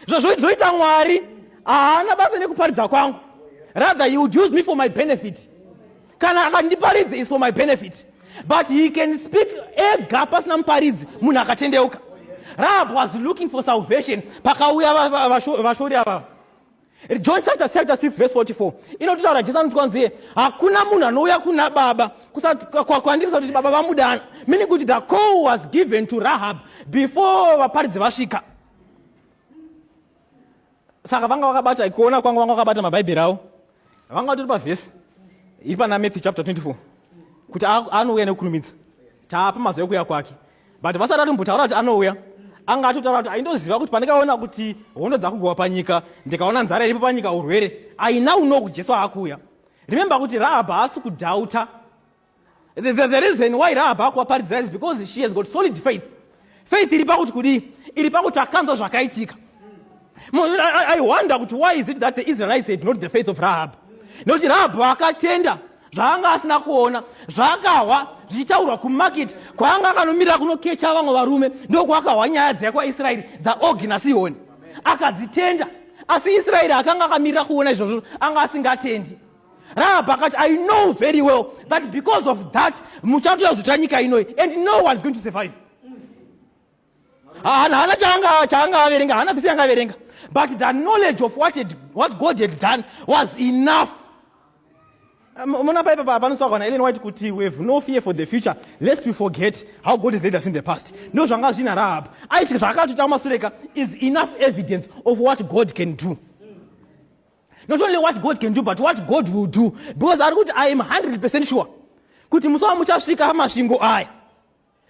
zvazvozoita mwari haana basa nekuparidza kwangu rather he would use me for my benefit kana akandiparidza is for my benefit but he can speak ega pasina muparidzi munhu akatendeuka rahab was looking for salvation pakauya vashori avava john chapter chapter 6 verse 44 inototaura jesu anoti kwanziye hakuna munhu anouya kuna baba kwandiri kusati kuti baba vamudana meaning kuti the call was given to rahab before vaparidzi vasvika saka vanga vakabata kuona kwanga vanga vakabata mabhaibheri avo vanga vatori pavhesi iri pana matthew chapter 24 kuti anouya nekukurumidza taapa mazuva ekuuya kwake but vasati vatombotaura kuti anouya anga atotaura kuti aindoziva kuti pandikaona kuti hondo dzakugowa panyika ndikaona nzara iripo panyika urwere aina unoku jesu aakuuya remembe kuti rahab haasi kudhauta The, the, the reason why Rahab akuvaparidza is because she has got solid faith. Faith iri pakuti kudii? Iri pakuti akanzwa zvakaitika. I, I wonder kuti why is it that the Israelites had not the faith of Rahab? Nokuti Rahab akatenda zvaanga asina kuona zvakahwa zvichitaurwa kumarket kwaanga akanomirira kunokecha vamwe varume ndokwakahwa nyaya dzaya kwaisraeri dzaogi nasihoni akadzitenda asi israeri akanga akamirira kuona izvozvo anga asingatendi Rahab akati, I know very well that because of that muchatoya kuzotora nyika inoyi and no one is going to survive. Hana hana changa changa averenga, hana vese yanga averenga. But the knowledge of what had, what God had done was enough. Mona paipa papa panosaka na Ellen White kuti we have no fear for the future lest we forget how God has led us in the past. No zvanga zvina Rahab. Aichi zvakatuta kumasureka is enough evidence of what God can do. not only what god can do but what god will do because ari kuti i am 100 percent sure kuti musi wamuchasvika amasvingo aya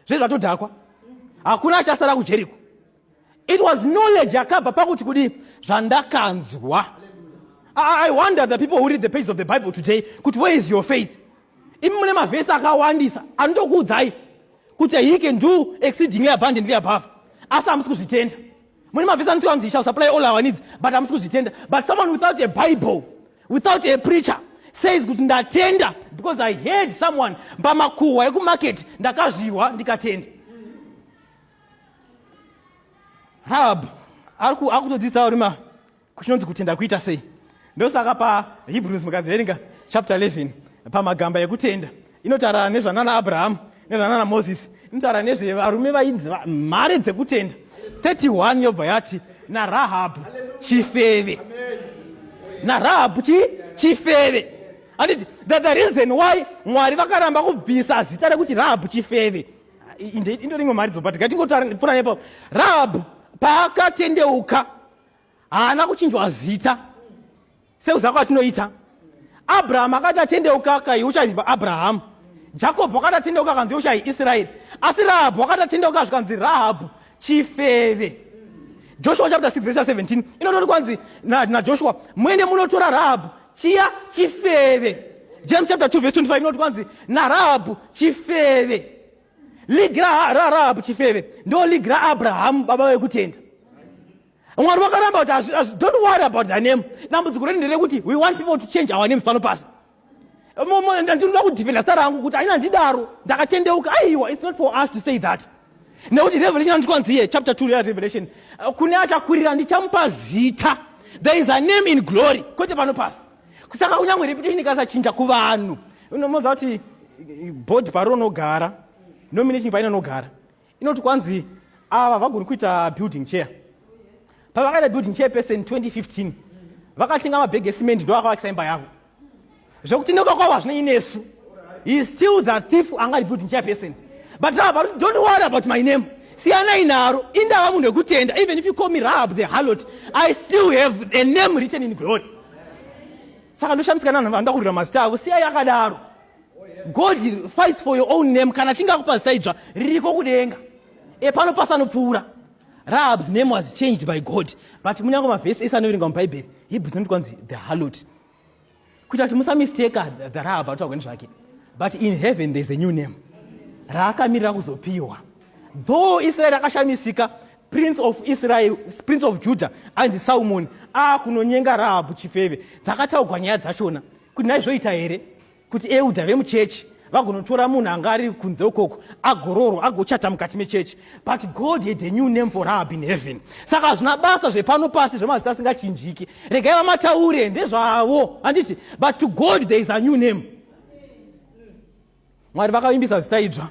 zve zvatodhakwa hakuna achasara kujeriko it was knowledge yakabva pakuti kudii zvandakanzwa i wonder the people who read the pages of the bible today kuti where is your faith imi mune mavhesi akawandisa anotokuudzai kuti he can do exceedingly abundantly above asi hamusi kuzvitenda mune mavhesi anoti anzi shall supply all our needs but hamusi kuzvitenda but someone without a bible without a preacher says kuti ndatenda because i heard someone pamakuhwa ekumarket ndakazvihwa ndikatenda rahab akutodzidzisa uri ma kuchinonzi kutenda kuita sei ndosaka pahebrews mukazoverenga chapter 11 pamagamba ekutenda inotaura nezvanana abrahamu nezvanana moses inotaura nezvevarume vainzi mhare dzekutenda 31 yobva yati narahabhu chifeve narahabhu chi chifeve anditi that the reason why mwari vakaramba kubvisa zita rekuti rahabhu chifeve indorimwe mharidzo but ngatingotaura pfunanepo rahabhu paakatendeuka haana kuchinjwa zita sekuziva kwatinoita abrahamu akati atendeuka kai uchaiziva abrahamu jakobho akati atendeuka akanzi uchai israeri asi rahabhu akati atendeuka zvikanzi rahabhu chifeve joshua chapter 6 verse 17 inotori kwanzi najoshua na muende munotora rahabhu chiya chifeve james chapter 2 verse 25 inoti kwanzi narahabhu chifeve Ligi raRahabhu chifeve ndo ligi raAbrahamu baba vekutenda. Mwari wakaramba kuti don't worry about the name. Dambudziko redu nderekuti we want people to change our names pano pasi. Ndinoda kudefenda star rangu kuti aina ndidaro ndakatendeuka aiwa it's not for us to say that. Nekuti Revelation anotwanzi here chapter 2 ya Revelation kune achakurira ndichamupa zita there is a name in glory kwete pano pasi. kusaka kunyange reputation ikasachinja kuvanhu unomoziva kuti eh, bhodhi parinogara nomination painonogara inoti kwanzi ava vagoni kuita building chair pavakaita building chair person 2015 vakatenga mabhege esimend ndo vakavakisa imba yavo zvekuti ndoka kwavo hazvina inesu he still the thief anga ari building chair person but now but don't worry about my name siyanai naro indava munhu wekutenda even if you call me rahab the harlot i still have a name written in glory saka ndoshamisika nanhu vanoda kurira mazita avo siyai akadaro god fights for your own name kana chinge akupa zita idzva ririko kudenga e pano pasanopfuura rahabs name was changed by god but munyange mavhesi ese anoverenga mubhaibheri hebrews noti kwanzi the halot kuita kuti musamisteka the rahab atotagweni zvake but in heaven there's a new name raakamirira kuzopiwa though israeri akashamisika prince of israel prince of judah ainzi salmoni akunonyenga rahabhu chifeve dzakataugwa nyaya dzachona kuti naizvoita here kuti euda vemuchechi vagonotora munhu anga ari kunze ukoko agororwa agochata mukati mechechi but god had a new name for rahab in heaven saka hazvina basa zvepano pasi zvemazita asingachinjiki regai vamataure ndezvavo handiti but to god there is a new name mwari vakavimbisa zita idzva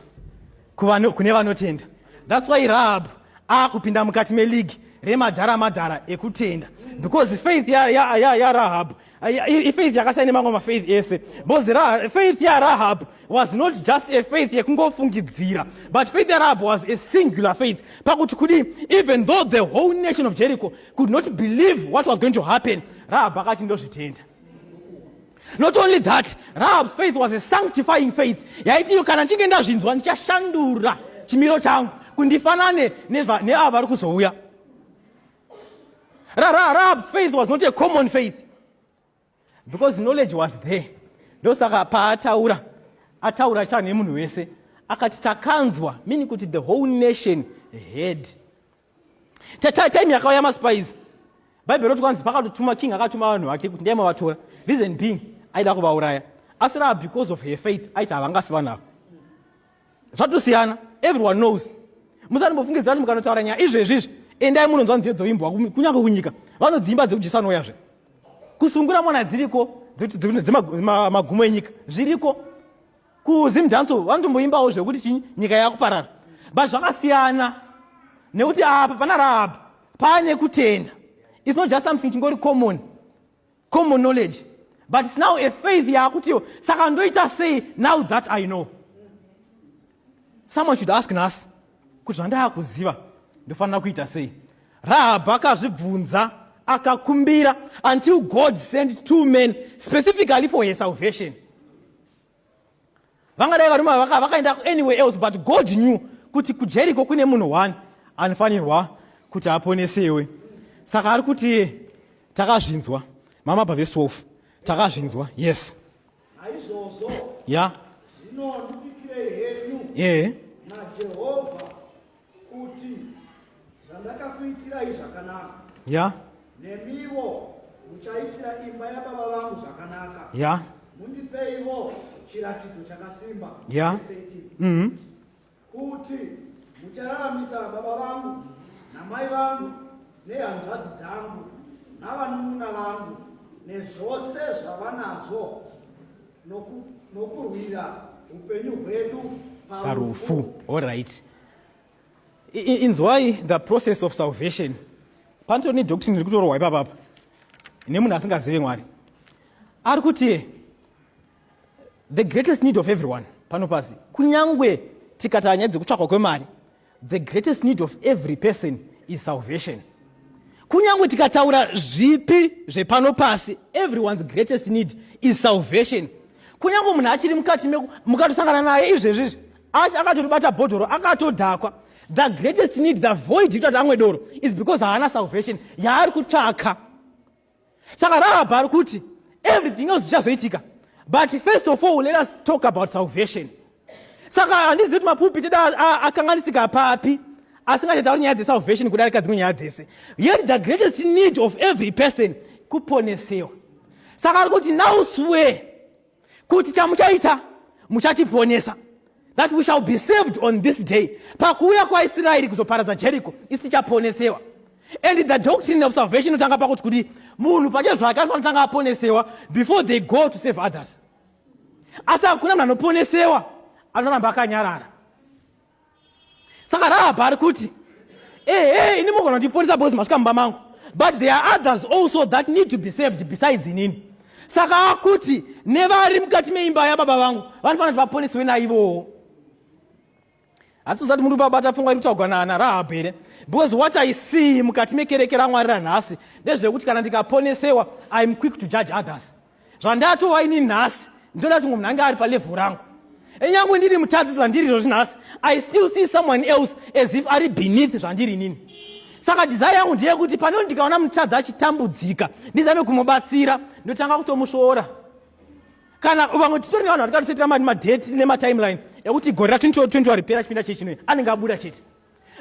kune vanotenda thats why rahabhu akupinda mukati meleague remadhara madhara ekutenda because faith yarahabhu ifaith yakasiyana nemamwe mafaith ese because faith yarahabhu was not just a faith yekungofungidzira but faith yarahab was a singular faith pakuti kudii even though the whole nation of jericho could not believe what was going to happen rahab akati ndozvitenda not only that rahab's faith was a sanctifying faith yaiti iyo kana ndichinge ndazvinzwa ndichashandura chimiro changu kundifanane neava vari kuzouya rahab's faith was not a common faith because knowledge was there ndosaka paataura ataura chane munhu wese akati takanzwa meaning kuti the whole nation heard time yakauya maspice bhaibheri roti kwanzi pakatotuma king akatuma vanhu vake kuti ndiye mavatora reason being aida kuvauraya asi rava because of her faith aiti havangafi vanhu ava zvatosiyana everyone knows musanimbofungidzira kuti mukanotaura nyaya izvezvi izvi endai munonzwa nziyo dzoimbwa kunyange kunyika vanodziimba dzekudyisanoyazve kusungura mwana dziriko dzemagumo enyika zviriko kuzim dance vanotomboimbawo zvekuti chinyi nyika yakuparara but zvakasiyana nekuti apa pana rahab paane kutenda its not just something chingori common common knowledge but its now a faith yaakutiyo saka ndoita sei now that i know someone should ask nhasi kuti zvandaakuziva ndofanira kuita sei rahab akazvibvunza akakumbira until god sent two men specifically for her salvation vangadai varume ava vakaenda anywhere else but god knew kuti kujeriko kune munhu one anofanirwa kuti aponesewe saka ari kuti takazvinzwa mama bva ve12 takazvinzwa yes aizvozvo ya yeah. zvinondipikirei henyu ehe yeah. najehovha kuti zvandakakuitirai zvakanaka ya nemiwo muchaitira imba yababa vangu zvakanaka ya mundipeiwo chiratidzo chakasimba ya mhm. kuti muchararamisa baba vangu namai vangu nehanzvadzi dzangu navanun'una vangu nezvose zvavanazvo nokurwira upenyu hwedu parufu all right inzwai the process of salvation panoto ne doctrine iri kutorohwa ipapa apa nemunhu asingazive mwari ari kuti the greatest need of everyone pano pasi kunyange tikatanya dzekutsvakwa kwemari The greatest need of every person is salvation. Kunyange tikataura zvipi zvepano pasi, everyone's greatest need is salvation. Kunyange munhu achiri mukati meku mukatosangana naye izvezvizvi akatoribata bhodhoro akatodhakwa the greatest need the void yekuti amwe doro is because haana salvation yaari kutsvaka saka rahabha ari kuti everything else zvichazoitika but first of all let us talk about salvation saka handizivi kuti mapupiti da akanganisika papi asingachatauri nyaya dzesalvation kudarika dzimwe nyaya dzese yet the greatest need of every person kuponesewa saka ari kuti now swear kuti chamuchaita muchatiponesa that we shall be saved on this day pakuuya kwaisraeri kuzoparadza jeriko isi tichaponesewa and the doctrine of salvation inotanga pakuti kuti munhu pache zvake anofanotanga aponesewa before they go to save others asi hakuna munhu anoponesewa anoramba akanyarara saka rahapa ari kuti ehe ini mogona kutiponesa bozi masvika mumba mangu but there are others also that need to be saved besides inini saka akuti nevari mukati meimba yababa vangu vanofanira kuti vaponeswe naivowo asi usati muri babata pfungwa iri kutaugwa naana rahabhi here because what i see mukati mekereke ramwari ranhasi ndezvekuti kana ndikaponesewa iam quick to judge others zvandatova ini nhasi ndoda kuti munhu ange ari palevhel rangu enyangwe ndiri mutadzi zvandiri izvozvi nhasi i still see someone else as if ari beneath zvandiri inini saka dizai yangu ndeyekuti panoo ndikaona mutadzi achitambudzika ndizame kumubatsira ndotanga kutomusvoora kana vamwe titori nevanhu vatikatosetera madheti nematimeline ekuti gore ra 2020 ripera chipinda chechinoyi anenge abuda chete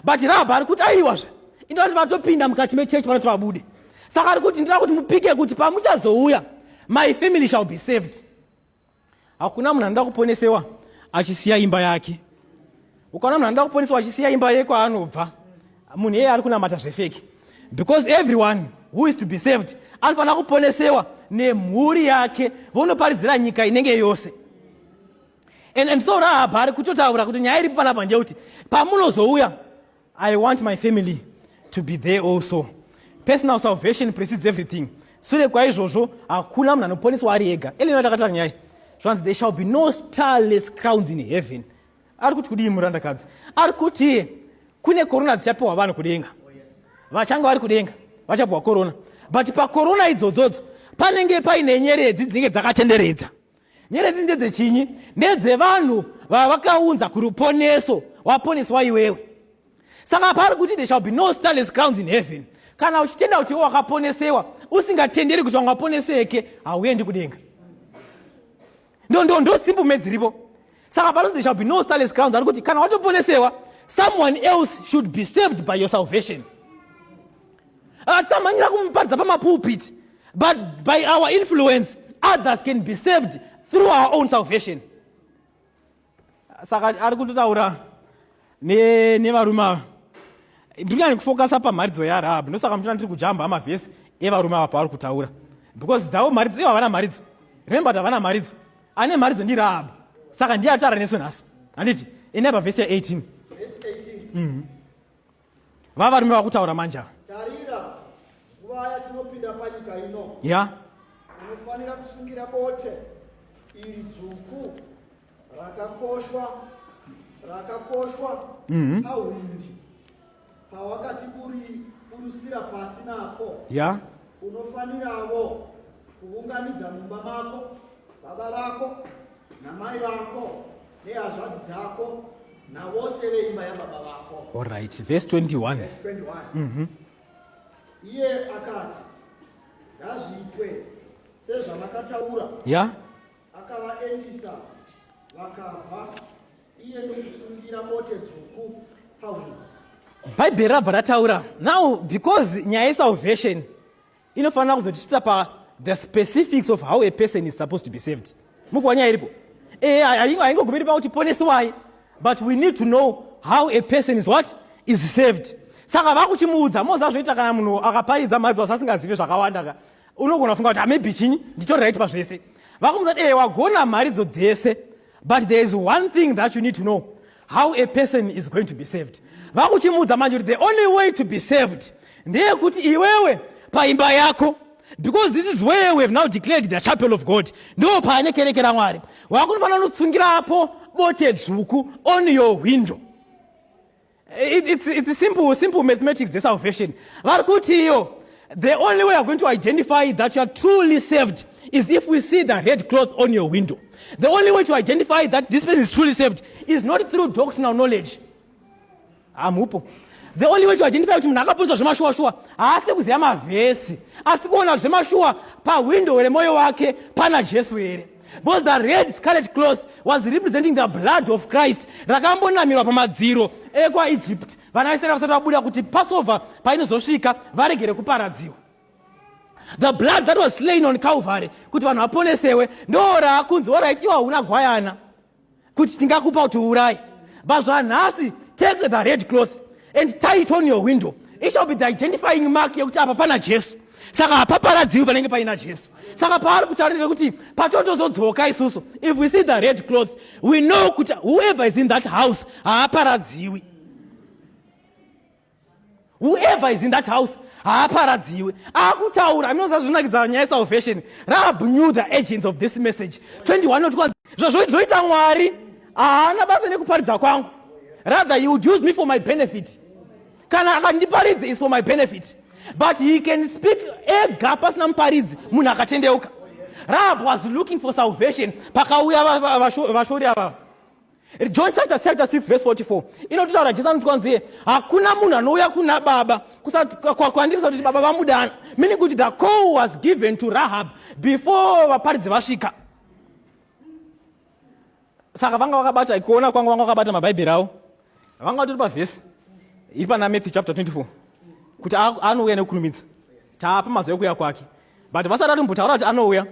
but rabha ari kuti aiwazve inoda kuti vatopinda mukati mechechi vanoti vabude saka ari kuti ndinoda kuti mupike kuti pamuchazouya my family shall be saved hakuna munhu anoda kuponesewa achisiya imba yake ukaona munhu anoda kuponesewa achisiya imba ye kwaanobva munhu iyeye ari kunamata zvefeki because everyone who is to be saved anofanira kuponesewa nemhuri yake vonoparidzira nyika inenge yose and, and so rahabha ari kutotaura kuti nyaya iripo panapa ndeyekuti pamunozouya i want my family to be there also personal salvation precedes everything sure kwaizvozvo hakuna munhu anoponeswa ari ega elina takataura nyaya zvanzi there shall be no starless crowns in heaven ari kuti kudii murandakadzi ari kuti kune korona dzichapiwa vanhu kudenga vachange vari kudenga vachapiwa korona but pakorona idzodzodzo panenge paine nyeredzi dzinenge dzakatenderedza Nyeredzi ndedzechinyi? Ndedzevanhu vavakaunza kuruponeso, waponeswa iwewe. Saka pari kuti there shall be no starless crowns in heaven. Kana uchitenda kuti iwe wakaponesewa, usingatenderi kuti vanga waponeseke, hauendi kudenga. Ndondo ndosimbu medziripo. Saka pari kuti there shall be no starless crowns, ari kuti kana watoponesewa, someone else should be saved by your salvation. Atsamhanyira kumuparidza pamapulpiti but by our influence others can be saved through our own salvation saka ari kutotaura nevarume ava ndiri kunyanya kufokasa pamharidzo yarahabhi ndosaka muchiona ndiri kujamba amavhesi evarume ava pavari kutaura because dzavo mharidzo ivo havana mharidzo remember kuti havana mharidzo ane mharidzo ndirahabhi saka ndiye atara nesu nhasi handiti ine pavhesi ya 18 mm -hmm. Va varume vakutaura manja. Tarira nguva yatinopinda panyika ino. Ya. Unofanira kusungira bote iri dzvuku rakakoshwa rakakoshwa mm -hmm. pawakati kuri kurusira pasi nako. Ya. Unofaniravo kuunganidza mumba mako baba vako namai vako nehazvadzi dzako navose veimba yababa vako allright vhesi 21 vhesi 21 mm -hmm. iye akati ngazviitwe sezvamakataura ya yeah. akavaendisa vakabva iye ndokusungira mote dzvuku pauri bhaibheri rabva rataura now because nyaya yesalvation inofanira kuzotichitsa pa the specifics of how a person is supposed to be saved mukuwa nyaya iripo e haingogumiri pakuti ponesewai but we need to know how a person is what is saved saka vakuchimuudza mozazvoita kana munhu akaparidza mhadzi wasi asingazivi zvakawanda ka unogona kufunga kuti amaybe ah, chinyi nditori right pazvese vakumuudza kuti e wagona mharidzo dzese but there is one thing that you need to know how a person is going to be saved vakuchimuudza manje kuti the only way to be saved ndeyekuti iwewe paimba yako because this is where we have now declared the chapel of god ndo paane kereke ramwari wakunofanira unotsungira apo bote dzvuku on your window It, it's, it's simple, simple mathematics the salvation vari kuti iyo the only way you're going to identify that you are truly saved is if we see the red cloth on your window the only way to identify that this person is truly saved is not through doctrinal knowledge hamupo ah, the only way to identify kuti munhu akapusa zvemashuwashuwa haasi kuziva mavhesi asi kuona zvemashuwa pahwindo remoyo wake pana jesu here Because the red scarlet cloth was representing the blood of Christ rakambonamirwa pamadziro ekwaEgypt vana vaIsraeri vasati vabuda kuti Passover painozosvika varegere kuparadziwa. The blood that was slain on Calvary kuti vanhu vaponesewe ndoo raakunzi oraiti iwa huna gwayana kuti tingakupa kuti uuraye but zvanhasi take the red cloth and tie it on your window it shall be the identifying mark yekuti apa pana jesu saka hapaparadziwi panenge paina jesu saka paari kutaurira kuti patotozodzoka isusu if we see the red cloth we know kuti whoever is in that house haaparadziwi whoever is in that house haaparadziwe akutaura aminoza zvinakidza nyaya salvation rab knew the agents of this message 21 not kwanzi zvazvoita mwari haana basa nekuparidza kwangu rather he would use me for my benefit kana akandiparidzi is for my benefit but he can speak ega pasina muparidzi munhu akatendeuka rab was looking for salvation pakauya vashori ava john chapter chapter 6 verse 44 inototaura jesu anoti kwanziye hakuna munhu anouya kuna baba kwandiri kusati kuti baba vamudana meaning kuti the call was given to rahab before vaparidzi vasvika saka vanga vakabata kuona kwanga vanga vakabata mabhaibheri avo vanga vatori pavhesi iri pana matthew chapter 24 kuti anouya nekukurumidza Tapa mazuva ekuya kwake but vasati atombotaura kuti anouya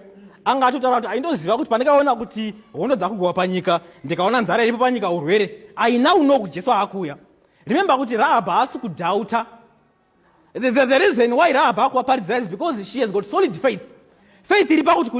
anga atotaura kuti aindoziva kuti pandikaona kuti hondo dzakugowa panyika ndikaona nzara iripo panyika urwere aina uno kuti jesu aakuuya remember kuti rahabha haasi kudhauta the, the, the reason why rahabha akuvaparidza is because she has got solid faith faith iri pakuti kudi